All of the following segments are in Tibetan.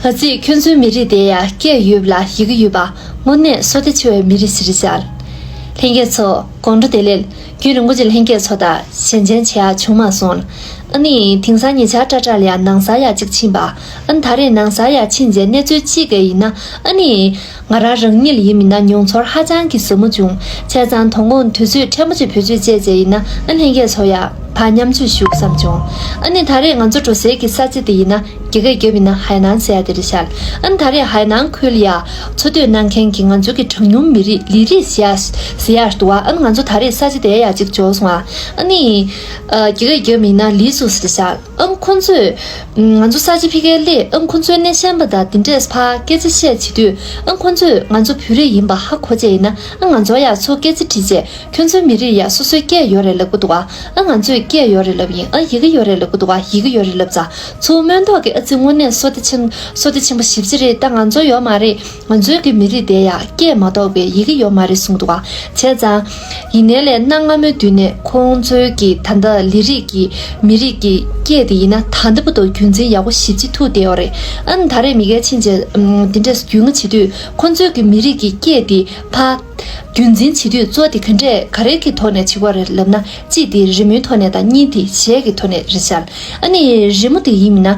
ཨ་ཙི་ཁྱོད་ཚོའི་མི་རིགས་དེ་ཡ་སྐད་ཡོད་ལ་ཡི་གེ་ཡོད་པ་དངོས་གནས་སོ་ལྟ་ཆེ་བའི་མི་རིགས་ཞིག་རེད་ཤར། ལྷན་རྒྱས་ཚོ་དགོང་དྲོ་དེ་ལས་རྒྱུན་རིང་པོ་ཅིག་ལྷན་རྒྱས་ཚོ་དང་ཞལ་མཇལ་བྱས་ཡ་བྱུང་མ་སོང་ལ་ཨ་ནི་དེང་སང་ཉེ་ཆར་སྐྲ་བྲག་ལ་ཡང་ནང་སར་ཡ་གཅིག་ཕྱིན་པ་ཨ་ནི་ད་རེས་ནང་སར་ཡ་ཕྱིན་རྗེས་གནས་ཚུལ་ཅི་ག་ཡིན་ན་ཨ་ནི། ང་རང་རང་ཉིད་ཡིན་མིན་ན་མྱོང་ཚོར་ཧ་ཅང་གི་ཟབ་མོ་བྱུང་བྱས་ཙང་དོ་དགོང་དུས་ཚོད་ཕྲན་བུ་ཅིག་བུ་ཆུད་ཅེས་བྱས་ཡིན་ན་ཨ་ལྷན་རྒྱས་ཚོ་ཡག་བ་མཉམ་བཅོས་ཞུ་བསམ་བྱུང་ཨ་ནི་ད་རེས་ང་ཚོ་འགྲོ་སའི་གི་ས་ཚིགས་དེ་ཡིན་ན་རྒྱ་སྐད་རྒྱབ་ཡིན་ན་ཧའེ་ནན་ཟེར་ཡག་དེ་རེད་ཤར་ཨ་ནི་ད་རེས་ཧའེ་ནན་ཁུལ་ཡག་འཚོ་སྡོད་གནང་མཁན་གི་ང་ཚོ་གི་གྲངས་ཉུང་མི་རིགས་ལི་རིགས་ཟེར་ཡག་ཟེར་ཡག་འདུག་བ་ཨ་ནི་ང་ཚོ་ད་རེས་ས་ཆ་དེ་ཡག་ཅིག་འཇོག་སོང་བ་ཨ་ནི་རྒྱ་སྐད་རྒྱབ་ཡིན་ན་ལི་ཟུག་ཟེར་ཤར། ཨ་ཁོ་ཚོས། ང་ཚོ་ས་ཆ་ཕི་ཀའི་སླད་ཨ་ཁོ་ཚོའི་སྣེ་ཤན་པ་དང་འདི་འདྲས་ཕ་སྐད་ཚེ་བཤད་བྱེད་དུས་ཨ་ཁོ་ཚོས་ང་ཚོ་བོད་རིགས་ཡིན་པ་ཧ་གོ་བྱས་ཡིན་ན་ཨ་ང་ཚོ་ཡག་ཚོ་སྐད་ཚེ་དྲིས་བྱས་ཁྱོད་ཚོའི་མི་རིགས་ཡག་སོ་སོའི་སྐད་ཡོད་རེད་ལབ་གི་འདུག་ཨ་ཨ་ང་ཚོས་སྐད་ཡོད་རེད་ལབ་ཡིན་ཨ་ཡི་གེ་ཡོད་རེད་ལབ་གི་འདུག་ཨ་ཡི་གེ་ཡོད་རེད་ལབ་ཚ་ཚོ་སྨོན་མདོག་གི་ཨ་ཙི་དངོས་གནས་སོ་ཏི་ཆེན་པོ་སོ་ཏི་ཆེན་པོ་ཞིབ་ཆ་རེད་ད་ང་ཚོ་ཡོད་མ་རེད། མཛོད་ཀྱི་མི་རིགས་དེ་ཡང་སྐད་མ་གཏོགས་པའི་ཡི་གེ་ཡོད་མ་རེད་གསུངས་འདུག་བྱས་ཙང། ཡིན་ནའི་ལས་གནའ་སྔ་མོའི་དུས་ནས་ཁོང་ཚོའི་ཀྱི་ད་ལྟ་ལི་རིགས་ཀྱི་མི་རིགས་ཀྱི་སྐད་དེ་ཡིན་ན་ད་ལྟ་བུ་དོ་རྒྱུན་འཛིན་ཡག་པོ་ཞིབ་ཅིག་ཐུག་བསྡད་ཡོད་རེད་ཨང། ད་རེས་མི་སྒེར་ཕྱིན་རྗེས་འདི་འདྲས་རྒྱུས་མངའ་བྱེད་དུས་ཁོང་ཚོའི་ཀྱི་མི་རིགས་ཀྱི་སྐད་དེ་ཕ། རྒྱུན་འཛིན་བྱེད་དུས་གཙོ་དེ་ག་འདྲས་ག་རེ་གི་ཐོག་ནས་བྱེད་དགོས་རེད་ལབ་ན་གཅིག་དེ་རི་མོའི་ཐོག་ནས་དང་གཉིས་དེ་གཞས་ཀྱི་ཐོག་ནས་རེད་བྱ། ཨ་ནི་རི་མོ་དེ་ཡིན་མིན་ན།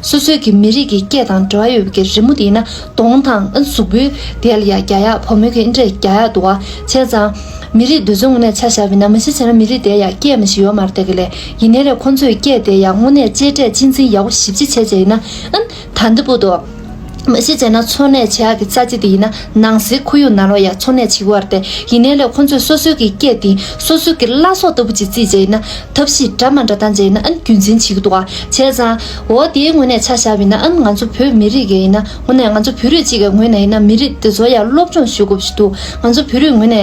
སོ་སོའི་གི་མི་རིགས་ཀྱི་སྐད་དང་འབྲེལ་བ་ཡོད་པའི་གི་རི་མོ་དེ་ན་གདོང་དང་གཟུགས་པོའི་དེ་ལ་ཡ་རྒྱ་ཡག་ཕོ་མོའི་གི་འདྲེ་རྒྱ་ཡག་འདུག་བ་བྱས་ཙང། མི་རིགས་འདོད་ཆུང་ངོ་ནས་ཆ་བཞག་པའི་ན་མ་གཞི་བྱས་ན་མི་རིགས་དེ་ཡ་སྐད་མ་ཞིག་ཡོག་མར་དེ་གི་ལས་ཡིན་ནའི་རེད་ཁོང་ཚོས་སྐད་དེ་ཡ་དངོ་གནས་གཅེས་སྤྲས་གཅེས་འཛིན་ཡག་པོ་ཞིབ་ཅིག་བྱས་བྱས་ཡིན་ན་ཨ་ན་ད་འདི་པོ་འདུག། མ་གཞི་བྱས་ན་འཚོ་གནས་བྱེད་ཨག་གི་རྩ་གཅིག་དེ་ཡིན་ན་ནང་གསེས་ཁོར་ཡུག་ནང་ལོགས་ཡག་འཚོ་གནས་བྱེད་དགོས་བར་ཏེ་ཡིན་ནའི་ལས་ཁོ་ཚོས་སོ་སོའི་གི་སྐད་དེ་སོ་སོའི་གི་བླ་སྲོག་ལྟ་བུ་ཅིག་རྩིས་བྱས་ན་ཐབས་ཤེས་འདྲ་མ་འདྲ་བཏང་བྱས་ན་ཨང་རྒྱུན་འཛིན་བྱེད་གི་འདུག་ཨ་བྱས་ཙང་འོ་དེའི་ངོས་ནས་ཆ་བཞག་བས་ན་ཨང་ང་ཚོ་བོད་མི་རིགས་གི་ཡིན་ན་ངོ་ནས་ང་ཚོ་བོད་རིགས་གཅིག་གི་ངོས་ནས་ཡིན་ན་མི་རིགས་འདི་ཚོ་ཡང་སློབ་སྦྱོང་ཞུ་དགོས་བཞིན་དུ་ང་ཚོ་བོད་རིགས་ངོས་ནས།